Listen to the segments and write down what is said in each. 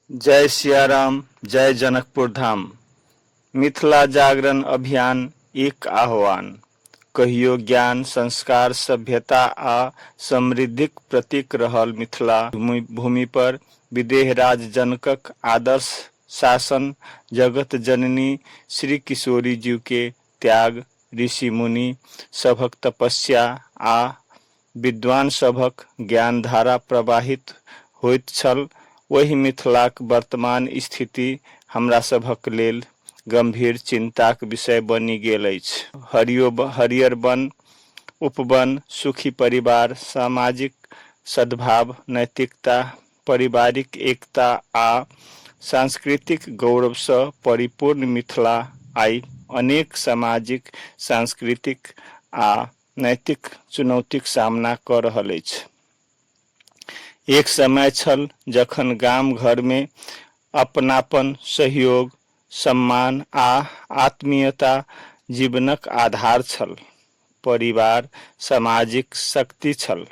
जय सियाराम जय जनकपुर धाम मिथिला जागरण अभियान इक आह्वान कहियो ज्ञान संस्कार सभ्यता आ समृद्धिक प्रतीक रहल मिथिला भूमि पर विदेहराज जनकक आदर्श शासन जगत जननी श्री किशोरी जीव के त्याग ऋषि मुनि सभक तपस्या आ विद्वान सभक ज्ञानधारा प्रवाहित होइत छल। ओहि मिथिलाक वर्तमान स्थिति हमरा सभक लेल गम्भीर चिन्ताक विषय बनि गेल अछि। हरियो हरियर वन, उपवन, सुखी परिवार, सामाजिक सद्भाव, नैतिकता, पारिवारिक एकता आ सांस्कृतिक गौरवसँ परिपूर्ण मिथिला आइ अनेक सामाजिक, सांस्कृतिक आ। नैतिक चुनौतीक सामना कऽ रहल अछि। एक समय छल जखन गाम-घरमे अपनापन, सहयोग, सम्मान आ आत्मीयता जीवनक आधार छल। परिवार सामाजिक शक्ति छल।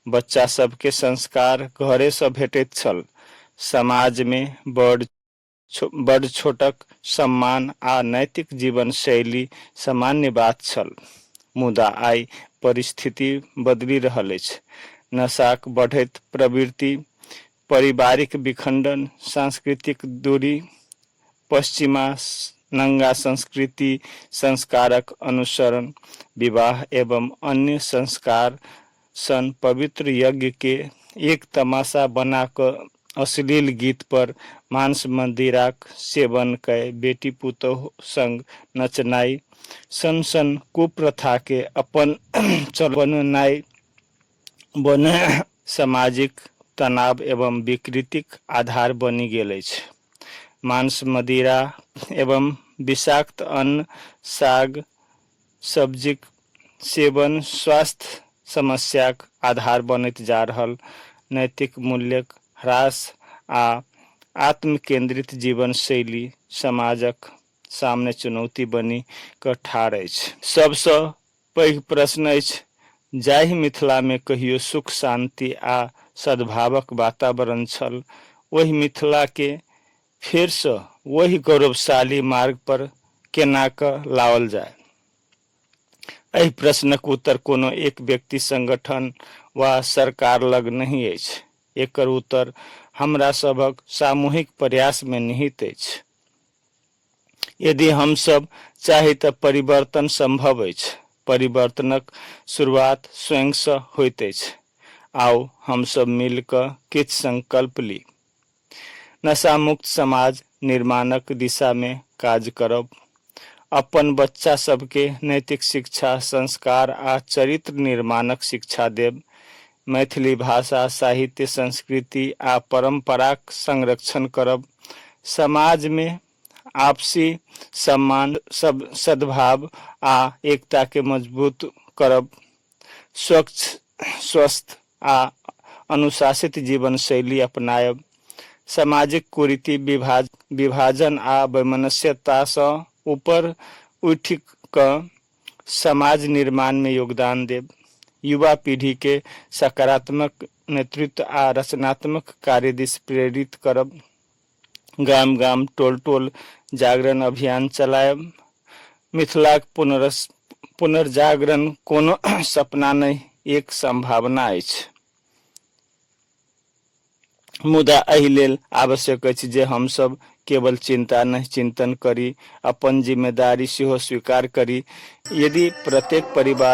बच्चासभकेँ संस्कार घरेसँ भेटैत छल। समाजमे बड़, बड़-छोटक सम्मान आ नैतिक जीवन-शैली सामान्य बात छल। मुदा आइ परिस्थिति बदलि रहल अछि। नशाक बढ़ैत प्रवृत्ति, पारिवारिक विखंडन, सांस्कृतिक दूरी, पश्चिमा नंगा संस्कृति, संस्कारक अनुसरण, विवाह एवं अन्य संस्कार सन पवित्र यज्ञ के एक तमाशा बना कऽ अश्लील गीत पर मांस-मदिराक सेवन कए बेटी-पुतोहु संग नचनाइ सन सन कुप्रथा के अपन चलन बनौनाइ बने सामाजिक तनाव एवं विकृतिक आधार बनि गेल अछि। मांस-मदिरा एवं विषाक्त अन्न, साग, सब्जीक सेवन स्वास्थ्य समस्याक आधार बनैत जा रहल नैतिक मूल्यक ह्रास आ आत्मकेन्द्रित जीवनशैली समाजक सामने चुनौती बनि कऽ ठाढ़ अछि। सभसँ पैघ प्रश्न अछि, जाहि मिथिलामे कहियो सुख, शान्ति आ सद्भावक वातावरण छल, ओहि मिथिलाकेँ फेर सँ ओहि गौरवशाली मार्ग पर केना कऽ लाओल जाय? एहि प्रश्नक उत्तर कोनो एक व्यक्ति, संगठन वा सरकार लग नहि अछि। एकर उत्तर हमरा सभक सामूहिक प्रयास मे निहित अछि। यदि हम सभ चाही तँ परिवर्तन संभव अछि। परिवर्तनक शुरुआत स्वयं सँ होइत अछि। आउ हम सभ मिल कऽ किछु संकल्प ली। नशामुक्त समाज निर्माणक दिशामे काज करब। अपन बच्चा सभकेँ नैतिक शिक्षा, संस्कार आ चरित्र निर्माणक शिक्षा देब। मैथिली भाषा, साहित्य, संस्कृति आ परम्पराक संरक्षण करब। समाजमे आपसी सम्मान, सद्भाव आ एकताकेँ मजबूत करब। स्वच्छ, स्वस्थ आ अनुशासित जीवनशैली अपनायब, सामाजिक कुरीति, विभाज, विभाजन आ वैमनस्यतासँ उपर उठि कऽ समाज निर्माणमे योगदान देब, युवा पीढीके सकारात्मक नेतृत्व आ रचनात्मक कार्यदिस प्रेरित करब, गाम-गाम, टोल-टोल जागरण अभियान चलाएब। मिथिलाक पुनर्जागरण कोनो सपना नहि, एक संभावना अछि। मुदा एहि लेल आवश्यक अछि जे हम सभ केवल चिंता नहि, चिंतन करी, अपन जिम्मेदारी सेहो स्वीकार करी। यदि प्रत्येक परिवार।